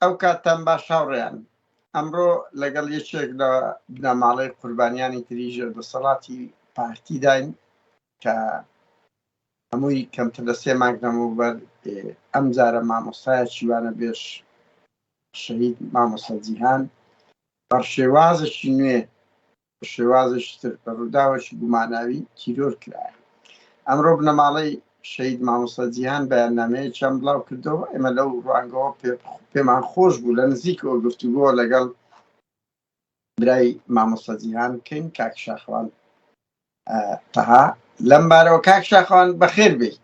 ئەو کاتتان باش هاوڕێیان ئەمڕۆ لەگەڵ یەکێک لە بنەماڵەی قوربانیانی تری ژێر دەسەڵاتی پارتیداین کە هەمووی کەمتر لە سێ مانگ نەمەوبەر ئەم جارە مامۆستایە چیوانە بێش شەهید مامۆستا جیهان بەڕشێوازەکی نوێ بە شێوازێکی تر بە ڕووداوێکی گوماناوی تیرۆر کرایە. ئەمڕۆ بنەماڵەی شەهید مامۆستا جیهان بەیاننامەیەکیان بڵاو کردەوە، ئێمە لەو ڕوانگەوە پێمان خۆش بوو لە نزیکەوە گفتوگۆ لەگەڵ برای مامۆستا جیهان بکەین کاک شاخوان تەها لەم بارەوە کاک شاخوان بەخێر بێی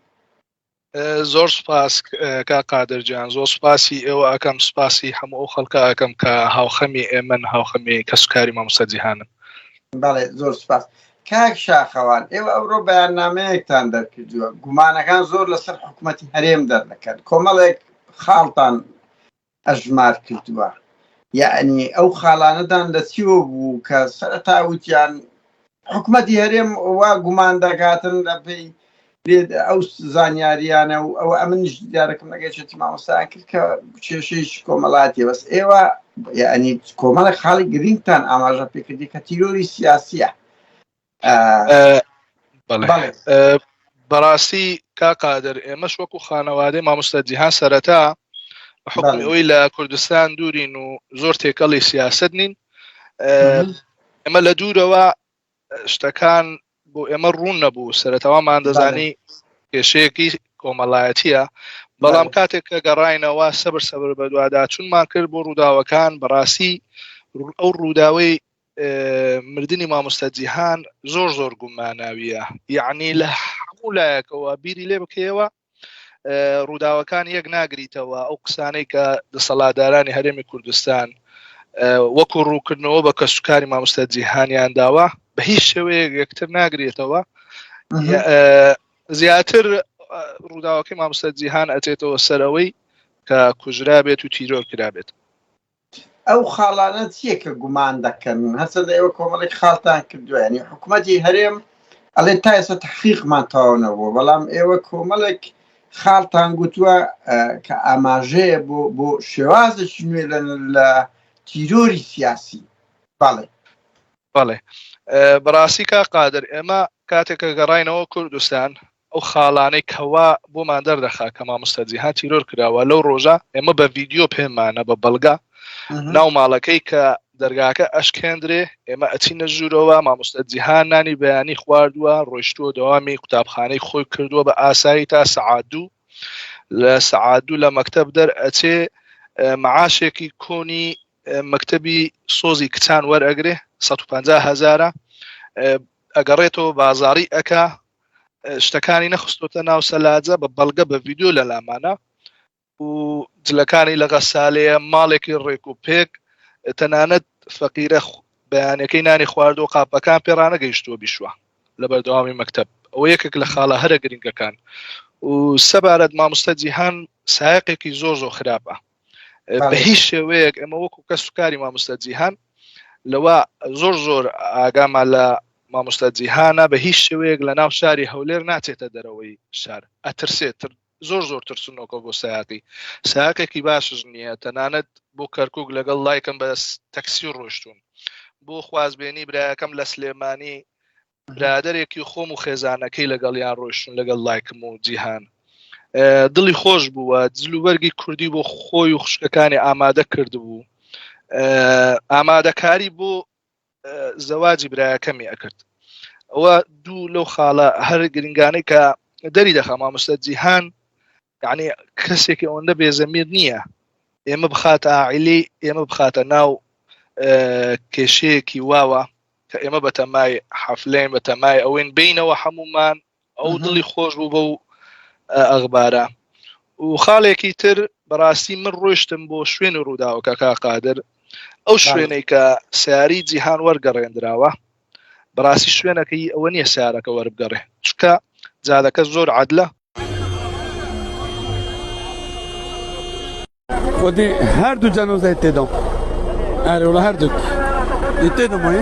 زۆر سوپاس کا قادر جان زۆر سوپاسی ئێوە ئەکەم سوپاسی هەموو ئەو خەڵکە ئەەکەم کە هاوخەمی ئێمن هاوخەمی کەسوکاری مامۆستا جیهانن بەڵێ زۆر سوپاس کاک شاخەوان ئێوە ئەوڕۆ بەیاننامەیەکتان دەرکردووە گومانەکان زۆر لەسەر حکوومەتتی هەرێم دەردەکەن کۆمەڵێک خاڵتان ئەژمار کردووە یەعنی ئەو خاڵانەدان لە چیوە بوو کە سەرەتا وتیان حکومەتی هەرێم وا گومان دەکاتن لە پێی ئەو زانیاریانە و ئەو ئەمنش دیارەکەم نەگەشێتی مامۆستایان کرد کە کێشەیش کۆمەڵاتی بەس ئێوە یعنی کۆمەڵێک خاڵی گرنگتان ئاماژە پێکردی کە تیرۆری سیاسیە بەڕاستی کا قادر ئێمەش وەکو خانەوادەی مامۆستا جیهان سەرەتا حکمی ئەوی لە کوردستان دوورین و زۆر تێکەڵی سیاست نین ئەمە لە دوورەوە شتەکان بۆ ئێمە ڕوون نەبوو سەرەتاوامان دەزانی کێشەیەکی کۆمەڵایەتیە بەڵام کاتێک کە گەڕینەوە سەبر سەبر بەدووادا چونمان کرد بۆ ڕووداوەکان بەڕاستی ئەو ڕووداوەی مردنی مامۆستا جیهان زۆر زۆر گوماناویە یعنی لە هەموو لایەکەوە بیری لێ بکەیەوە ڕووداوەکان یەک ناگریتەوە ئەو قسانەی کە دەسەڵادارانی هەرێمی کوردستان وەکو ڕووکردنەوە بە کەسوکاری مامۆستا جیهانیان داوە بە هیچ شێوەیە یەکتر ناگرێتەوە زیاتر ڕووداوەکەی مامۆستا جیهان ئەتێتەوە سەرەوەی کە کوژرا بێت و تیرۆر کرا بێت ئەو خاڵانە چیە کە گومان دەکەن هەرچەندە ئێوە کۆمەڵێک خاڵتان کردوە یانی حکومەتی هەرێم ئەڵێ تا ئێستا تحقیقمان تەواو نەبووە بەڵام ئێوە کۆمەڵێک خاڵتان گوتووە کە ئاماژەیە بۆ بۆ شێوازێکی نوێ لە تیرۆری سیاسی بەڵێ بەڵێ بەڕاستی کا قادر ئێمە کاتێکە گەڕینەوە کوردستان ئەو خاڵانەی کەوا بۆمان دەردەخا کە مامۆستا جیهان تیرۆر کراوە لەو ڕۆژە ئێمە بە ڤیدیۆ پێمانە بە بەڵگە ناو ماڵەکەی کە دەرگاکە ئەشکێندرێ ئێمە ئەچینە ژوورەوە مامۆستا جیهان نانی بەیانی خواردووە ڕۆیشتووە دەوامی قوتابخانەی خۆی کردووە بە ئاسایی تا سەعادوو لە سەعادوو لە مەکتب دەر ئەچێ معاشێکی کۆنی مەکتبی سۆزی کچان وەرئەگرێ 150 هزارە ئەگەڕێتەوە بازاری ئەکا شتەکانی نەخستۆتە ناو سەلاجە بە بەڵگە بە ڤیددیو لە لامانە و جلەکانی لە غەسالەیە ماڵێکی ڕێک و پێک تەنانەت فەقیرە بەیانەکەی نانی خوارد و قاپەکان پێڕانە گەیشتووە بیشوە لە بەردەوامی مەکتب ئەوە یەکێک لە خاڵە هەرە گرنگەکان و سەبارەت مامۆستا جیهان سایقێکی زۆر زۆر خراپە بە هیچ شێوەیەک ئەمە وەکو کەس و کاری مامۆستا جیهان لەوە زۆر زۆر ئاگاما لە مامۆستا جیهانە بە هیچ شێوەیەک لە ناو شاری هەولێر ناچێتە دەرەوەی شار ئەترسێت زۆر زۆر ترسنۆکە بۆ ساقی ساقێکی باشش نییە تەنانەت بۆ کەرکک لەگەڵ لایکم بە تەکسی ڕۆشتون بۆ خوازبێنی برایەکەم لە سلێمانی برادێکی خۆم و خێزانەکەی لەگەڵیان ڕۆشتون لەگەڵ لایکم و جیهان دڵی خۆش بووە جلوبەرگی کوردی بۆ خۆی و خوشکەکانی ئامادە کردبوو ئامادەکاری بۆ زەواجی برایەکەمی ئەکرد ئەوە دوو لەو خاڵە هەر گرنگانەی کە دەری دەخە مامۆستا جیهان یعنی کەسێکی ئەوەندە بێزەمیر نییە ئێمە بخاتە ئاعیلی ئێمە بخاتە ناو کێشەیەکی واوە کە ئێمە بە تەمای حەفلێن بە تەمای ئەوەین بینەوە هەمومان ئەو دڵی خۆش بوو بە و ئەغبارە و خاڵێکی تر بەڕاستی من ڕۆشتم بۆ شوێن و ڕووداوەکە کا قادر ئەو شوێنێک کە سیاری جیهان وەرگەڕێنراوە بەڕاستی شوێنەکە ی ئەوە نیە سارەکە وەربگەڕێ چکە جادەکە زۆر عادلە. خودی هەردوو جەنۆزای تێدام ئەرێ وڵا هەردوو تێدەمای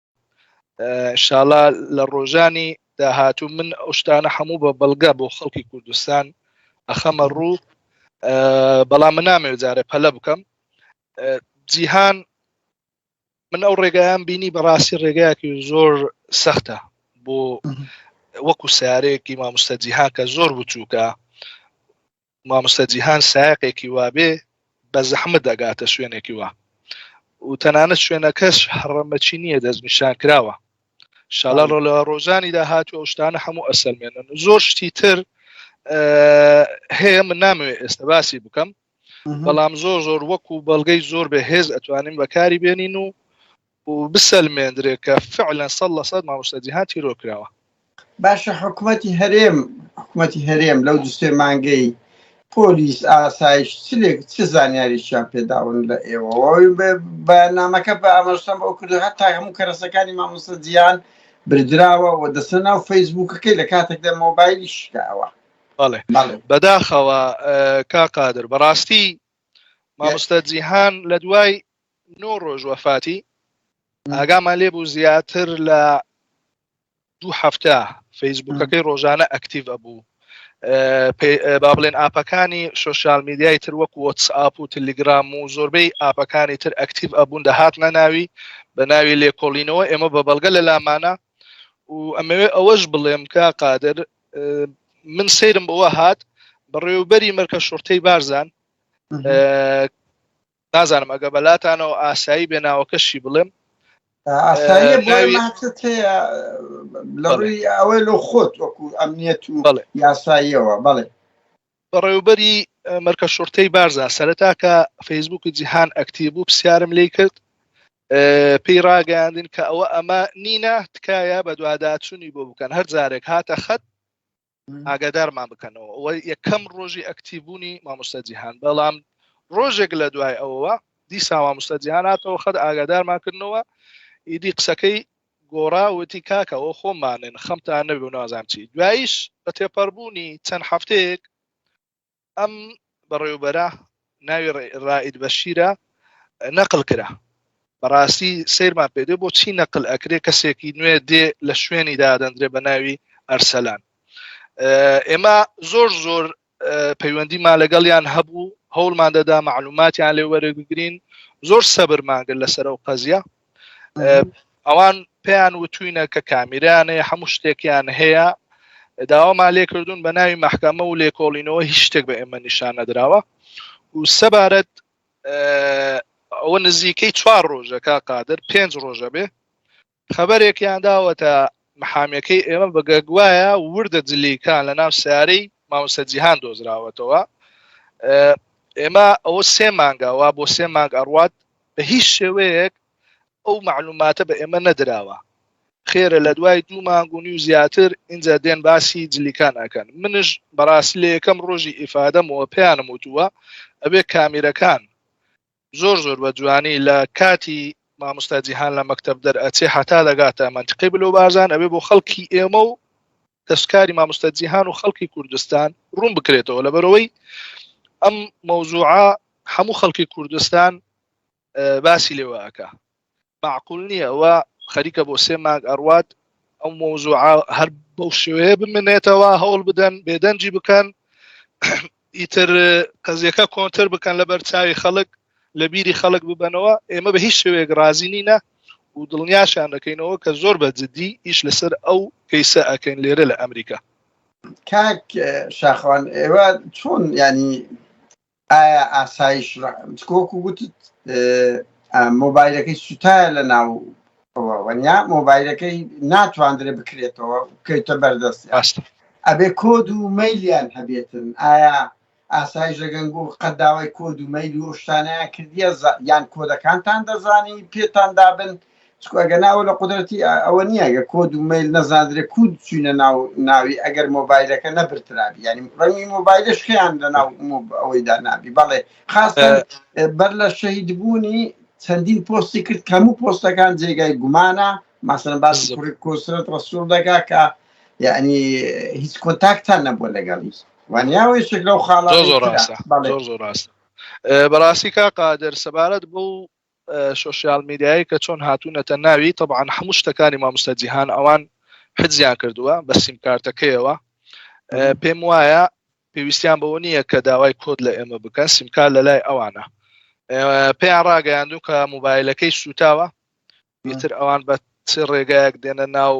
شاڵا لە ڕۆژانی داهاتوو من ئەو شتانە هەموو بە بەڵگە بۆ خەڵکی کوردستان ئەخەمە ڕوو بەڵام من نامێ جارە پەلە بکەم جیهان من ئەو ڕێگایان بینی بەڕاستی ڕێگایەکی زۆر سەختە بۆ وەکو سارەیەکی مامۆستا جیهاکە زۆر بچووکە مامۆستا جیهان سایەقێکی وابێ بە زەحمت دەگاتە شوێنێکی وا و تەنانەت شوێنەکەش هەڕەمەچی نییە دەستنیشان کراوە شاڵە ڕۆ لە ڕۆژانی داهات و شتانە هەموو ئەسەلمێنن و زۆر شتی تر هەیە من نامەوێ ئێستا باسی بکەم بەڵام زۆر زۆر وەکو بەڵگەی زۆر بە هێز ئەتوانین بەکاری بێنین و و بسەلمێندرێ کە فعلەن سەد لە سەد مامۆستا جیهان تیرۆر کراوە. باشە حکومەتی هەرێم حکومەتی هەرێم لەو دو سێ مانگەی پۆلیس ئاسایش چ لێک چ زانیاریشیان پێداون لە ئێوەوە بە- بەیاننامەکە بە ئاماژەم بەوە کردو هەتا هەموو کەرەسەکانی مامۆستا جیهان بردراوە و دەستە ناو فەیسبووکەکەی لە کاتێکدا مۆبایلی شکاوە بەڵێ بەڵێ بەداخەوە ئە، کا قادر بەڕاستی مامۆستا جیهان لە دوای نۆ ڕۆژ وەفاتی ئاگامان لێ بوو زیاتر لە دوو هەفتە فەیسبوکەکەی ڕۆژانە ئەکتیڤ ئەبوو با بڵێن ئاپەکانی سوسیال میدیای تر وەک وەتس ئاپ و تلیگرام و زۆربەی ئاپەکانی تر ئەکتیڤ ئەبوون دەهات نەناوی بە ناوی لێکۆڵینەوە ئێمە بە بەڵگە لە لامانە و ئەمەوێ ئەوەش بڵێم کە قادر من سرم بەوە هات بەڕێوبەری مەرکە شورتەی بارزان نازانم ئەگە بەلاتانەوە ئاسایی بێ ناوەکەشی بڵێم لەڕووی ئەوەی لە خۆت وەکو ئەمنیەت و یاساییەوە بەڵێ بەڕێوبەری مەرکە شورتەی بارزا سەرتاکە فەیسبوک و جیهان ئەکتی بوو پرسیارم لی کرد پێی ڕاگەیاندن کە ئەوە ئەمە نینە تکایە بە دواداچوونی بۆ بکەن هەر جارێک هاتە خەت ئاگادارمان بکەنەوە ئەوە یەکەم ڕۆژی ئەکتیبوونی مامۆستا جیهان بەڵام ڕۆژێک لە دوای ئەوەوە دیسا مامۆستا جیهان هاتەوە خەت ئاگادارمان کردنەوە ئیدی قسەکەی گۆڕاوتی کاکەەوە خۆمانن خەمتان نەبوو نازان چی دوایش بە تێپەڕبوونی چەند هەفتەیەک ئەم بەڕێوبەرە ناوی ڕائید بەشیرە نەقل کرا بەڕاستی سیرمان پێدێ بۆ چی نەقل ئەکرێ کەسێکی نوێ دێ لە شوێنی دادەندرێ بە ناوی ئەرسەلان ئێمە زۆر زۆر پەیوەندیمان لەگەڵیان هەبوو هەوڵمان دەدا معلوماتیان لێ وەرەگرین زۆر سەبرمانگر لەسەر ئەو قەزیە ئەوان پێیان وتوینە کە کامیرانەیە هەموو شتێکیان هەیە داوامان لێ کردوون بە ناوی محکەمە و لێکۆڵینەوە هیچ شتێک بە ئێمە نیشان نەدراوە و سەبارەت ئەوە نزیکەی چوار ڕۆژەکە قادر پێنج ڕۆژە بێ خبرێکیان داوەتە محامەکەی ئێمە بەگەگوایە وردە جلیکان لە ناو سیارەی ماوسە جیهان دۆزراوەتەوە ئێمە ئەوە سێ مانگەوە بۆ سێ مانگ ئەڕوات بە هیچ شێوەیەک ئەو معلوماتە بە ئێمە نەدراوە خێرە لە دوای دوو مانگونی و زیاتر ئینجا دێن باسی جلیکان ئەکەن منش بەڕاست لە یەکەم ڕۆژی ئیفادەمەوە پێیانم وتووە ئەبێ کامیرەکان زۆر زۆر بە جوانی لە کاتی مامۆستا جیهان لە مەکتب دەرئەچێ حتا دەگاتە منتقی بلو بازان ئەبێ بۆ خەڵکی ئێمە و دەستکاری مامۆستا جیهان و خەڵکی کوردستان ڕوون بکرێتەوە لەبەرەوەی ئەم مەوزوعە هەموو خەڵکی کوردستان باسی لێواکە معقول نییە ئەوە خەریکە بۆ سێ ماگ ئەڕوات ئەو مەوزوع هەر بەو شێوەیە بمنێتەوە هەوڵ بدەن بێدەنجی بکەن ئیتر قەزیەکە کۆنتر بکەن لە بەرچوی خەڵک لە بیری خەڵک ببەنەوە ئێمە بە هیچ شوێک رازی نینە و دڵنیاشان دەکەینەوە کە زۆر بە جددی ئیش لەسەر ئەو کەیسە ئەکەین لێرە لە ئەمریکا کاک شاخوان ئێوە چۆن ینی ئایا ئاسایش کۆک و گوتت مۆبایلەکەی سوتایە لە ناو وەنیا مۆبایلەکەی ناتواندرێ بکرێتەوە بکەیتە بەردەستی ڕاستە. ئەبێ کۆد و مەیلیان هەبێتن ئایا ئاسایش لەگەنگوو قەت داوای کۆد و مەیل و ئەو شتانەیان کردیە یان کۆدەکانتان دەزانی پێتان دابن چکو ئەگەنا ئەوە لە قودرەتی ئەوە نییە گە کۆد و مەیل نەزاندرێ کوو چوینە ناو ناوی ئەگەر مۆبایلەکە نەبرترابی یانی ڕەنگی مۆبایلش خیان لەناو ئەوەیدا نابی بەڵێ قاسم بەر لە شەهید بوونی چەندین پۆستی کرد کە هەموو پۆستەکان جێگای گومانە ماسەن باز کۆسرەت ڕسوول دەکا کە یعنی هیچ کۆنتاکتان نەبووە لەگەڵی وانیاوەی شک لەو خاڵە زۆر ڕاستە زۆر ڕاستە بەڕاستی کا قادر سەبارەت بۆ سوسیال میدیایی کە چۆن هاتوونەتە ناوی طبعاان هەموو شتەکانی مامۆستا جیهان ئەوان حزیان کردووە بە سیمکارتەکەیەوە پێم وایە پێویستیان بەوە نییە کە داوای کۆد لە ئێمە بکەن سیمکار لە لای ئەوانە پێیان ڕاگەیاندوو کە موبایلەکەی سوتاوە میتر ئەوان بە چ ڕێگایەک دێنە ناو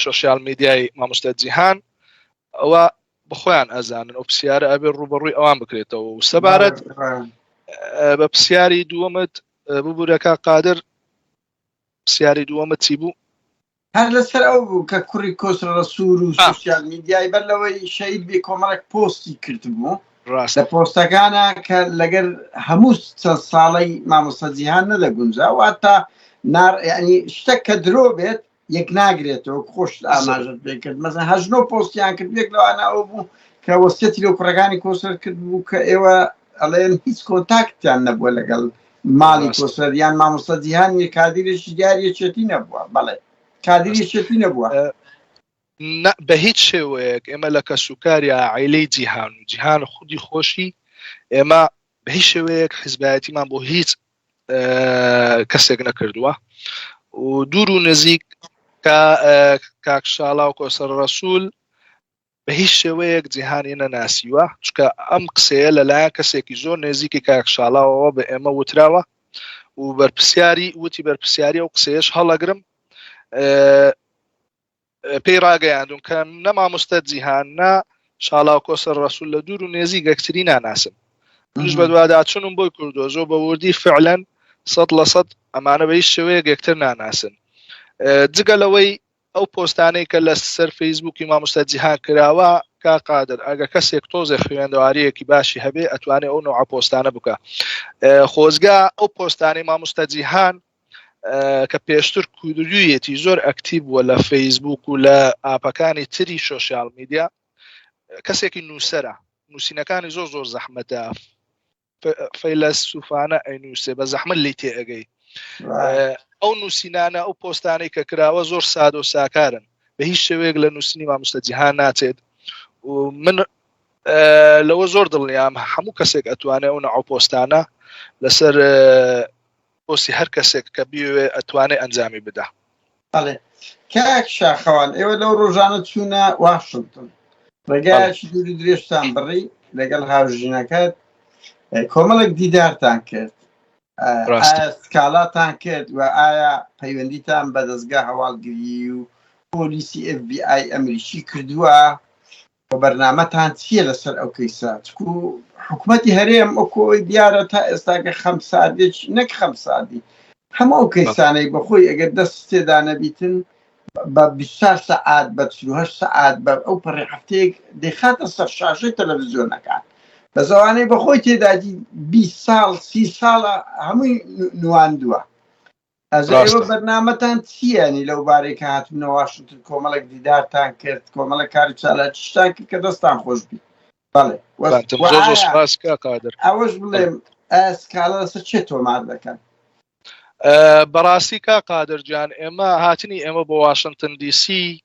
سوسیال میدیای مامۆستا جیهان ئەوە بخۆیان ئەزانن ئەو پرسیارە ئەبێ ڕوبەڕووی ئەوان بکرێتەوە و سەبارەت بە پرسیاری دووەمت ببوورەکە قادر پرسیاری دووەمە چی بوو هەر لەسەر ئەو بوو کە کوڕی کۆسرە ڕسوور و سوسیال میدیای بەر لەوەی شەید بێ کۆمەڵێک پۆستی کردبوو ڕاستە پۆستەکانە کە لەگەر هەموو چەند ساڵی مامۆستا جیهان نەدەگونجا و هەتا ناڕنی شتە کە درۆ بێت یەک ناگرێتەوە خۆشت ئاماژت بێکرد مەزە هەژنۆ پۆستیان کرد بێک لەوانە ئەو بوو کە وەسیەتی لە کوڕەکانی کۆسەر کرد بوو کە ئێوە ئەڵێن هیچ کۆنتاکتیان نەبووە لەگەڵ ماڵی کۆسەر یان مامۆستا جیهان نیە کادیرێکی دیاری یەکێتی نەبووە بەڵێ کادیر یەکێتی نەبووە بە هیچ شێوەیەک ئێمە لە کەسوکاریا عیلەی جیهان و جیهان خودی خۆشی ئێمە بە هیچ شێوەیەک حزبایەتیمان بۆ هیچ کەسێک نەکردووە و دوور و نزیک کاکشاڵا و کۆسەر ڕسوول بە هیچ شێوەیەک جیهانی نەناسیوە، چونکە ئەم قسەیە لەلایەن کەسێکی زۆر نێزیکی کاک شاڵاوەوە بە ئێمە وتراوە و بەرپسیاری وتی بەرپسیاری ئەو قسەیەش هەڵەگرم پێی ڕاگەیاندون کە نە مامۆستە جیهان نە شاڵاو کۆسەر ڕسول لە دوور و نێزی گەکتری ناناسم منش بە دوواداچونم بۆی کوردۆ زۆ بە وردی فعلەن سەد لە سەد ئەمانە بە هیچ شێوەیە گەکتر ناناسن جگە لەوەی ئەو پۆستانەی کە لە سەر فەیسبووکی مامۆستا جیهان کراوە کاک قادر ئەگە کەسێک تۆزێ خوێندەواریەکی باشی هەبێ ئەتوانێ ئەو نوع پۆستانە بکە خۆزگا ئەو پۆستانی مامۆستا جیهان کە پێشتر کودویەتی زۆر ئەکتیب بووە لە فەیسبوک و لە ئاپەکانی تری سوسیال میدیا کەسێکی نووسرە نووسینەکانی زۆر زۆر زەحمەتە فەیلەسوفانە ئەینووسێ بە زەحمت لی تێ ئەگەی ئەو نووسینانە ئەو پۆستانەی کە کراوە زۆر ساد و ساکارن بە هیچ شێوەیەک لە نووسنی مامۆستا جیهان ناچێت من لەوە زۆر دڵنیام هەموو کەسێک ئەتوانێت ئەو نەعاو پۆستانە لەسەر پۆستی هەر کەسێک کە بیەوێ ئەتوانێ ئەنجامی بدا. بەڵێ کاک شاخەوان ئێوە لەو ڕۆژانە چوونە واشنتن ڕێگایەکی دووری درێژتان بڕی لەگەڵ هاوژینەکەت کۆمەڵێک دیدارتان کرد سکاڵاتان کرد و ئایا پەیوەندیتان بە دەستگا هەواڵگری و پۆلیسی FBI ئەمریکی کردووە وە بەرنامەتان چیە لەسەر ئەو کەیسە چکو حکومەتی هەرێم وەکو ئەوەی دیارە تا ئێستاکە خەمساردێک نەک خەمساردی هەموو ئەو کەیسانەی بەخۆی ئەگەر دەست تێدا نەبیتن بە 24 سەعات بە 48 سەعات بە ئەو پەڕی هەفتەیەک دەیخاتە سەر شاشەی تەلەڤزیۆنەکان بە زەوانەی بەخۆی تێدادی 20 ساڵ سی ساڵە هەمووی نواندووە ئەزێوە بەرنامەتان چییانی لەو بارەی کە هاتونە واشنتن کۆمەڵێک دیدارتان کرد کۆمەڵە کاری چالاکیشتان کرد کە دەستان خۆش بی ئەوەش بڵێم ئەسکالە لەسەر چێ تۆمار دەکەن بەڕاستی کا قادرجان ئێمە هاتنی ئێمە بۆ واشنتن دیسی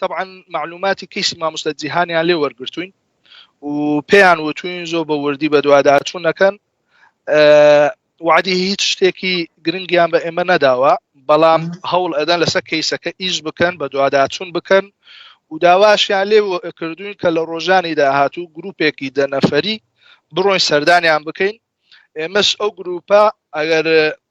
تەبعەن مەعلوماتی کەیسی مامۆستا جیهانیان لێ وەرگرتووین و پێیان وتوین زۆر بە وردی بەدواداچوو نەکەن وعدی هیچ شتێکی گرنگیان بە ئێمە نەداوە بەڵام هەوڵ ئەدەن لەسەر کەیسەکە ئیش بکەن بە دوواداچون بکەن و داواشیان لێ کردوین کە لە ڕۆژانی داهاتوو گروپێکی دەنەفەری بڕۆین سەردانیان بکەین ئێمەش ئەو گروپە ئەگەر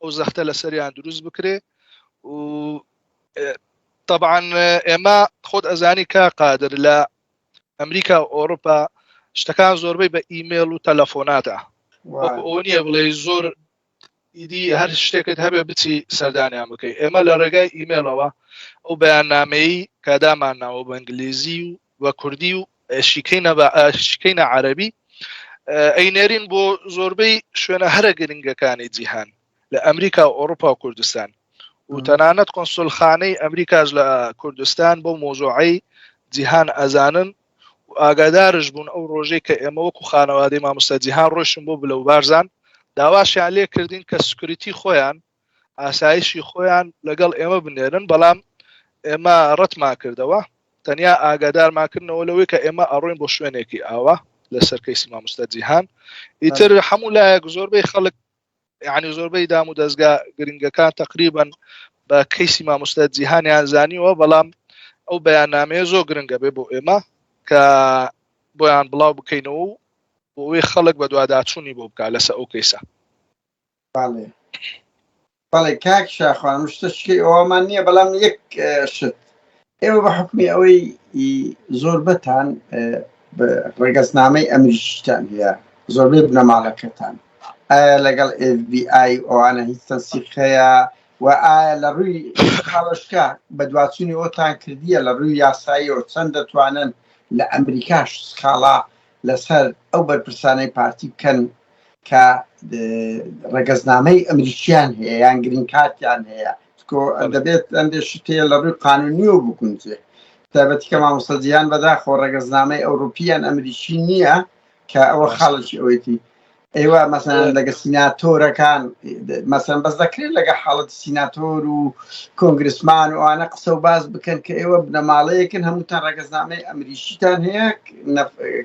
ئەو زەختە لەسەریان دروست بکرێ و طبعا ئێمە خۆت ئەزانی کا قادر لە ئەمریکا و ئۆروپا شتەکان زۆربەی بە ئیممەل و تەلەفۆنادا ئەو نییە بڵێ زۆر ئیدی هەر شتێکت هەبێ بچی سەردانیان بکەی ئێمە لە ڕێگای ئیممەلەوە ئەو بەیان نامەی کادامانناوە بە ئەنگلیزی و و کوردی و شیکەینە بە شیکەینە عەربی ئەینێرین بۆ زۆربەی شوێنە هەرە گرنگەکانی جیهان لە ئەمریکا و ئۆروپا و کوردستان و تەنانەت کۆنسولخانەی ئەمریکاش لە کوردستان بۆ مۆزۆعی جیهان ئەزانن و ئاگادارش بوون ئەو ڕۆژەی کە ئێمە وەکو خانەوادەی مامۆستا جیهان ڕۆشن بۆ بلە و بارزان داواشیان لێ کردین کە سکریتی خۆیان ئاسایشی خۆیان لەگەڵ ئێمە بنێرن بەڵام ئێمە ڕەتمان کردەوە تەنیا ئاگادارماکردنەوە لەوەی کە ئێمە ئەڕۆین بۆ شوێنێکی ئاوا لە سەرکەی سیمامستە جیهان ئیتر هەموو لایەک زۆربەی خەڵک یعنی زۆربەی دام و دەستگا گرنگەکان تقریبن بە کەیسی مامۆستا جیهانیان زانیوە بەڵام ئەو بەیاننامەیە زۆر گرنگە بێ بۆ ئێمە کە بۆیان بڵاو بکەینەوە و بۆی خەڵک بە دوواداچوونی بۆ بکە لەسە ئەو کەیسە بەڵێ بەڵێ کاک شاخوان شتە شکی ئەومان نییە بەڵام یەک شت ئێوە بە حکمی ئەوەی زۆربەتان ڕگەزنامەی ئەمریشتان هەیە زۆربەی بنەماڵەکەتان ئایا لەگەڵ FBI ئەوانە هیچ تەنسیقەیە و ئایا لە ڕووی خاڵشکە بە دواچوونی ئەوتان کردیە لە ڕووی یاساییەوە چەند دەتوانن لە ئەمریکاش سخاڵا لەسەر ئەو بەرپرسانەی پارتی بکەن کە ڕەگەزنامەی ئەمریکیان هەیە یان گرین کارتیان هەیە دەبێت ئەندێ شتێ لە ڕووی قانونی و بکونجێ تابەتی کە مامۆسەجییان بەداخۆ ڕەگەزنامەی ئەوروپیان ئەمریکی نییە کە ئەوە خاڵکی ئەوەیتی ئێوە مەسەن لەگە سیناتۆرەکان مەسەن بەس دەکرێت لەگە حاڵەت سیناتۆر و کۆنگرسمان و ئەوانە قسە و باز بکەن کە ئێوە بنەماڵەیەکن هەمووتان ڕگەزنامەی ئەمریشیتان هەیە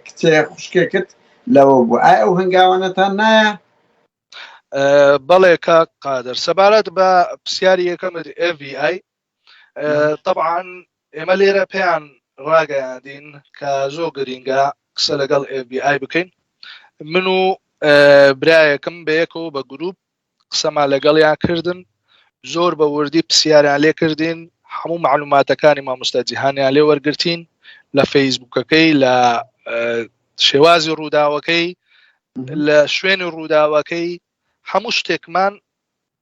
کچێ خوشکێکت لەوە بوو ئایا ئەو هەنگاوانەتان نایە بەڵێ کاک قادر سەبارەت بە پرسیاری یەکەمت FVI تەبعان ئێمە لێرە پێیان ڕاگەیاندین کە زۆر گرینگە قسە لەگەڵ FBI بکەین من و برایەکم بەیەکەوە بە گروپ قسەما لەگەڵیان کردن زۆر بە وردی پرسیاریان لێ کردین هەموو معلوماتەکانی مامۆستا جیهانیان لێ وەرگرتین لە فەیسبوکەکەی لە شێوازی ڕووداوەکەی لە شوێنی ڕووداوەکەی هەموو شتێکمان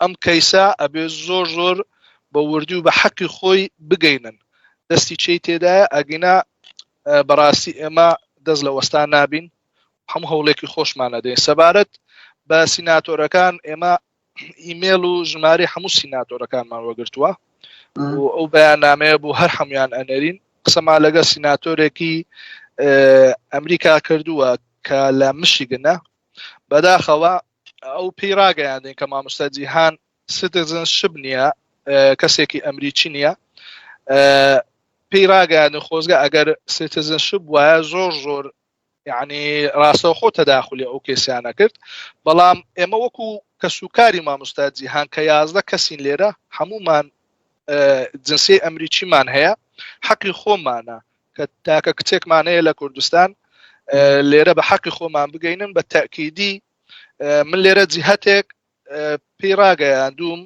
ئەم کەیسە ئەبێ زۆر زۆر بە وردی و بە حەقی خۆی بگەینن دەستی چی تێدایە ئەگینا بەڕاستی ئێمە دەست لە وەستان نابین هەموو هەوڵێکی خۆشمان نەدەین سەبارەت بە سیناتۆرەکان ئێمە ئیمێل و ژماری هەموو سیناتۆرەکانمان وەگرتووە و ئەو بەیاننامەیە بوو هەر هەمویان ئەنەرین قسەما لەگە سیناتۆرێکی ئەمریکا کردووە کە لە مشیگنە بەداخەوە ئەو پێی ڕاگەیاندین کە مامۆستا جیهان سیتزن شب نییە کەسێکی ئەمریکی نییە پێی ڕاگەیاندن خۆزگە ئەگەر سیتزن شب وایە زۆر زۆر یعنی ڕاستەوخۆ تەداخلی ئەو کێسیانە کرد بەڵام ئێمە وەکو کە سوکاری مامۆستا جیهان کە یازدە کەسین لێرە هەمومان جنسی ئەمریکیمان هەیە حەقی خۆمانە کە تاکە کچێکمان هەیە لە کوردستان لێرە بە حەقی خۆمان بگەینن بە تاکیدی من لێرە جیهتێک پێی ڕاگەیاندوم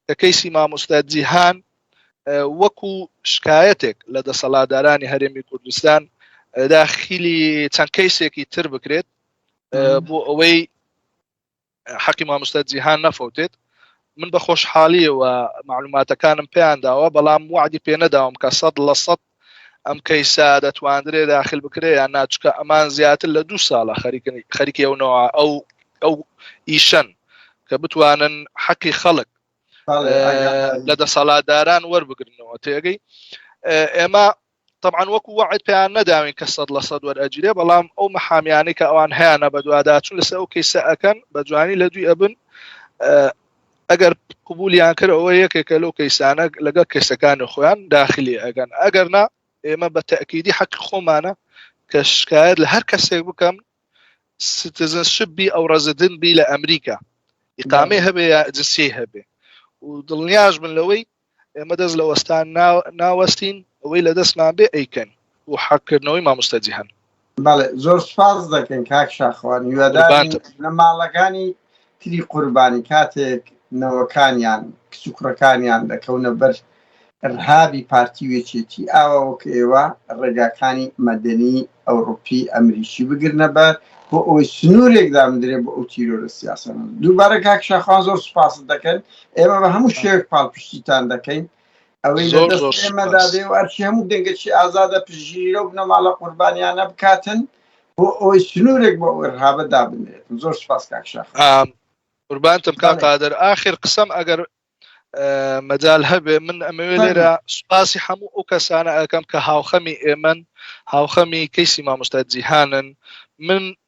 کە کەیسی مامۆستا جیهان وەکو شکایەتێک لە دەسەڵادارانی هەرێمی کوردستان داخیلی چەند کەیسێکی تر بکرێت بۆ ئەوەی حەقی مامۆستا جیهان نەفەوتێت من بە خۆشحالیەوە معلوماتەکانم پێیان داوە بەڵام وعدی پێ نەداوم کە سەد لە سەد ئەم کەیسا دەتواندرێ داخل بکرێ یان ناچکە ئەمان زیاتر لە دوو ساڵە خەریکن خەریکی ئەو نەوە ئەو ئەو ئیشەن کە بتوانن حەقی خەڵک لە دەسەڵاتداران وەربگرنەوە تێگەی ئێمە تەبعەن وەکو وەعد پێیان نەداوین کە سەد لە سەد وەرئەگیرێ بەڵام ئەو محامیانەی کە ئەوان هەیانە بەدواداچون لەسەر ئەو کەیسە ئەکەن بە جوانی لە دوی ئەبن ئەگەر قوبولیان کرد ئەوە یەکێکە لەو کەیسانە لەگەڵ کەسەکانی خۆیان داخلی ئەگەن ئەگەر نا ئێمە بە تەکیدی حەق خۆمانە کە شکایت لە هەر کەسێک بکەم سیتزنشپ بی ئەو ڕزدن بی لە ئەمریکا ئقامێ هەبێ یا جنسی هەبێ و دڵنیاش من لەوەی ئێمە دەست لە وەستان ناوەستین ئەوەی لە دەستمان بێ ئەیکەن بۆ حەقکردنەوەی مامۆستا جیهان. بەڵێ زۆر سپاس دەکەین کاک شاخوان هیوادارین لە ماڵەکانی تری قوربانی کاتێک نەوەکانیان کچ و کوڕەکانیان دەکەونە بەر ڕهابی پارتی وێچێتی ئاوا وەک ئێوە ڕێگاکانی مەدەنی ئەوروپی ئەمریکی بگرنە بەر بۆ ئەوەی سنوورێک دامدرێ بۆ ئەو تیرۆرە سیاسەن دووبارە کاک شاخوان زۆر سپاست دەکەن ئێمە بە هەموو شێوێک پاڵپشتیتان دەکەین ئەوەی لە دەست ئێمەدا بێ و ئەرچی هەموو دەنگەکی ئازادە پژیرە و بنەماڵە قوربانیانە بکاتن بۆ ئەوەی سنوورێک بۆ ئەوەرهابە دابنێت زۆر سپاس کاکشاخ قوربانتم کا قادر آخر قسم ئەگەر مەجال هەبێ من ئەمەوێ لێرە سوپاسی هەموو ئەو کەسانە ئەەکەم کە هاوخەمی ئێمن هاوخەمی کەیسی مامۆستا جیهانن من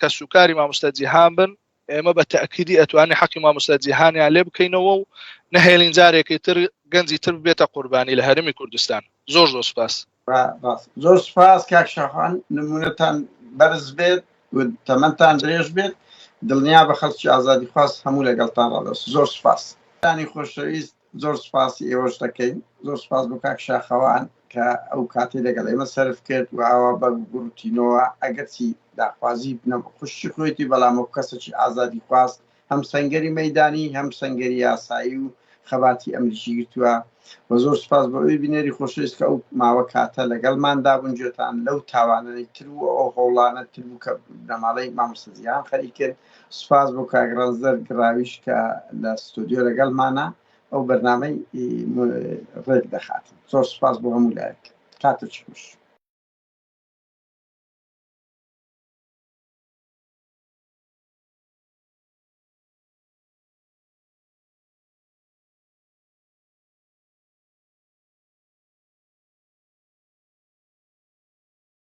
کەس و کاری مامۆستا جیهان بن ئێمە بە تاکیدی ئەتوانی حەقی مامۆستا جیهانیان لێ بکەینەوە و نەهێلین جارێکی تر گەنجی تر بێتە قوربانی لە هەرمی کوردستان زۆر زۆر سپاس زۆر سپاس کاک شاخان نمونەتان بەرز بێت تەمەتان درێژ بێت دڵنیا بە خەڵکی ئازادی خواست هەموو لەگەڵتان ڕادەست زۆر سپاس تانی خۆشەویست زۆر سوپاسی ئێوەش دەکەین زۆر سوپاس بۆ کاک شاخەوان کە ئەو کاتی لەگەڵ ئێمە سرف کرد و ئاوا بە گوڕوتینەوە ئەگەرچی داخوازی بنە خوشی خۆێتی بەڵام ئەو کەسەی ئازادی خواست هەم سنگەری مەدانی هەم سنگەری یاسایی و خەباتی ئەمریکی گرتووە و زۆر سوپاس بۆ ئەوی بینێری خۆشەویست کە ئەو ماوە کاتە لەگەڵماندا بونجێتان لەو تاوانەی تر و ئەو هەوڵانە تر بوو کە بنەماڵەی مامۆسەزیان خەریکرد سوپاس بۆ کاک ڕەنجدەر گڕاویش کە لە ستۆدیۆ لەگەڵمانە ئەو بەرنامەی ڕێک دەخات زۆر سوپاس بۆ هەموو لایەک کاتە چوش